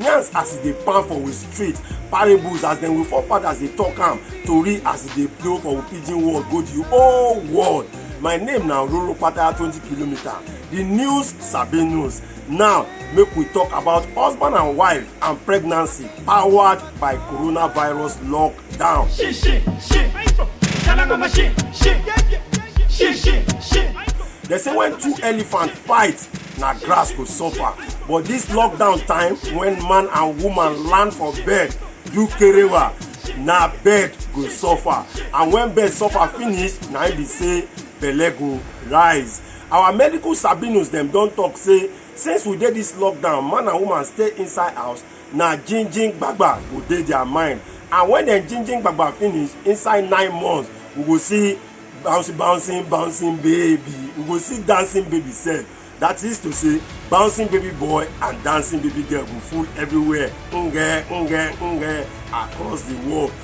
yarns as e dey pan for we street parables as dem we forefathers dey talk am tori as e dey blow for we pidgin world go the whole world my name na roro pataya twenty kilometre the news sabi news now make we talk about husband and wife and pregnancy powered by coronavirus lock Down. Shit, shit, shit. Shalangoma shit, shit. Shit, shit, shit. They say when two elephants fight, na grass go suffer. But this lockdown time, when man and woman land for bed, do kerewa, na bed go suffer. And when bed suffer finish, na im be say belle go rise. Our medical sabinus dem don talk say since we dey this lockdown, man and woman stay inside house, na jinjin gbagba go dey their mind and when dem jinjin gbagba finish inside nine months we go see bouncing bouncing bouncing baby we go see dancing baby sef that is to say bouncing baby boy and dancing baby girl go full everywhere nge nge nge across the world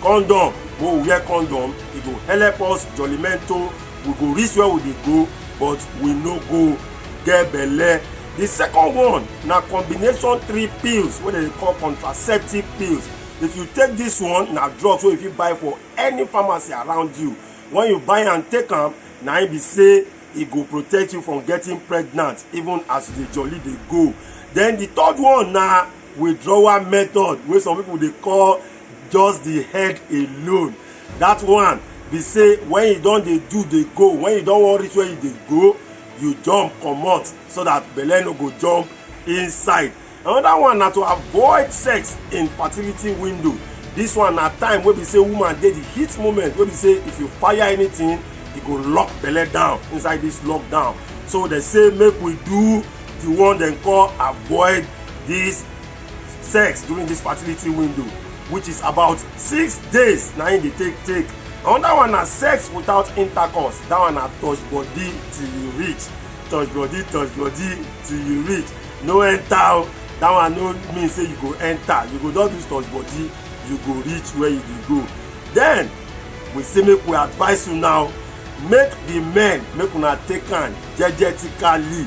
condom we go wear condom e go help us jollimento we go reach where we dey go but we no go get belle the second one na combination three pills wey dem dey call contraceptive pills if you take this one na drugs wey you fit buy for any pharmacy around you when you buy am take am na im be say e go protect you from getting pregnant even as you dey jolly dey go then the third one na withdrawal method wey some people dey call just the head alone that one be say when you don dey do dey go when you don wan reach where you dey go you jump comot so that belle no go jump inside another one na to avoid sex in fertility window this one na time wey be say woman dey the heat moment wey be say if you fire anything e go lock belle down inside this lockdown so they say make we do the one dem call avoid this sex during this fertility window which is about six days na im dey take take another one na sex without intercourse that one na touch body till you reach touch body touch body till you reach no enter o that one no mean say you go enter you go just do touch body you go reach where you dey go then we say make we advise you now make the men make una take am jejetically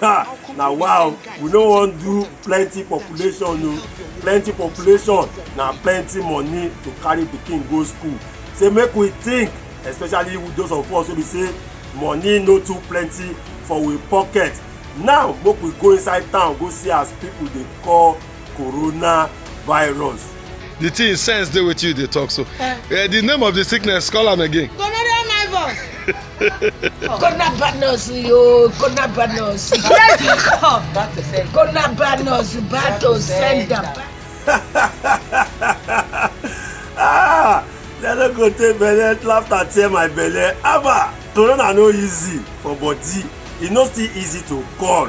Ha! Na wow, we no wan do plenty population o. Plenty population na plenty money to carry pikin go school. Say make we think, especially those of us wey be say money no too plenty for we pocket. Now make we go inside town go see as people dey call coronavirus. the thing sense dey wetin you dey talk so uh, the name of the sickness call am again. gonorrhea virus. coronavirus yo coronavirus. yes you come back to send. coronavirus back to send am. ah dem no go take belle laughter tear my belle haba corona no easy for body e no still easy to call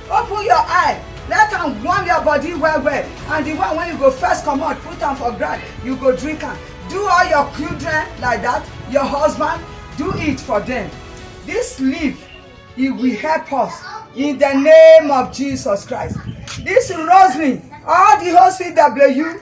open your eye let am warm your body well well and the one wey you go first comot put am for ground you go drink am do all your children like that your husband do it for them this leaf e will help us in the name of jesus christ this rosary all the whole cw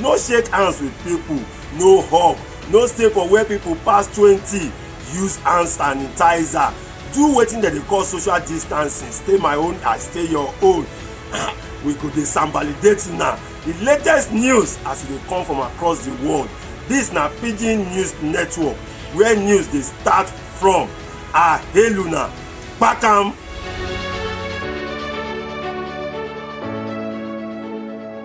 no shake hands with people no hug no stay for where people pass twenty use hand sanitizer do wetin dem dey call social distancing stay my own i stay your own we go dey sambalidate una the latest news as e dey come from across the world this na pidgin news network where news dey start from i hail una kpakam.